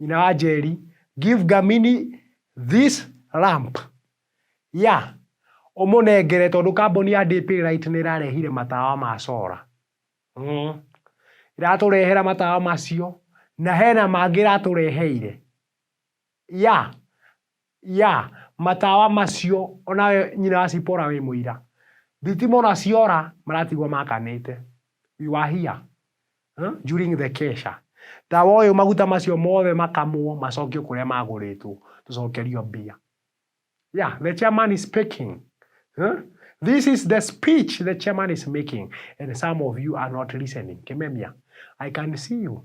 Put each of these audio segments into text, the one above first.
Nyina wa Njeri, Give Gamini this lamp. Yeah, ũmũnengere tondũ kambuni ya DP Light nĩ ĩrarehire matawa ma solar. Mm. Ĩratũrehera matawa macio na hena mangĩ ĩratũreheire. Yeah, Ya, matawa macio, o nawe nyina wa Sipora wĩ mũira. Thitima o na ciora, maratigwo makanĩte. You are here, huh, during the kesha. Tawa ũyũ maguta macio mothe makamwo, macokio kũrĩa magũrĩtwo, tũcokerio mbia. Ya, the chairman is speaking, huh, this is the speech the chairman is making and some of you are not listening. Kĩmemia, I can see you.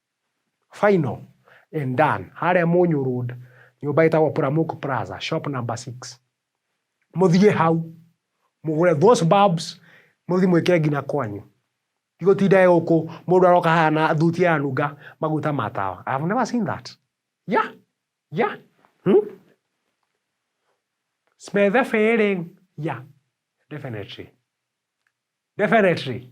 Final and done. Harĩa Mũnyũ Road, nyũmba ĩtagwo Pramuk Plaza, shop number six. Mũthiĩ hau, mũgũre those bulbs, mũthiĩ mwĩkĩre nginya kwanyu. Ti gũtinda e gũkũ, mũndũ aroka haha na thuti aranunga maguta ma tawa. I have never seen that. Yeah, yeah. Hmm? Smell the feeling. Yeah, definitely. Definitely.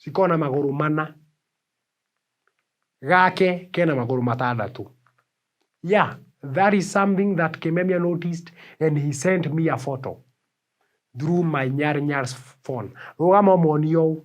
cikoragwo na magũrũ mana, gake kena magũrũ matandatũ. Yeah, that is something that Kimemia noticed and he sent me a photo through my Nyar Nyar's phone. Rũgama ũmonie ũũ.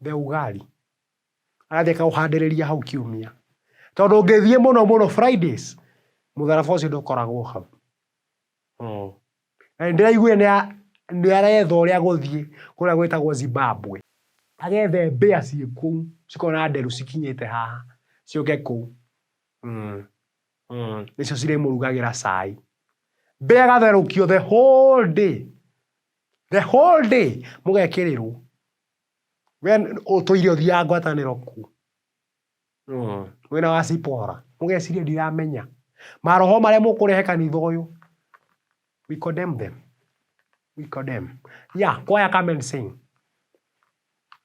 mbegũ gari, agathiĩ akaũhandĩrĩria hau kiumia. Tondũ ũngĩthiĩ mũno mũno Fridays, mũtharaba ũcio ndũkoragwo hau. Na nĩ ndĩraiguire nĩ aretha ũrĩa egũthiĩ kũrĩa gwĩtagwo Zimbabwe, agethe mbĩa ciĩ kũu, cikoragwo na nderu cikinyĩte haha, ciũke kũu nĩcio cirĩmũrugagĩra cai. Mbĩa ĩgatherũkio the whole day. The whole day mũgekĩrĩrwo. We ũtũire ũthiaga ngwatanĩro ku. Mm. Mwena wa Cipora. Mũgeciria ndiramenya. Maroho marĩa mũkũrehe kanitha ũyũ. We condemn them. We condemn. Yeah, kwaya come and sing.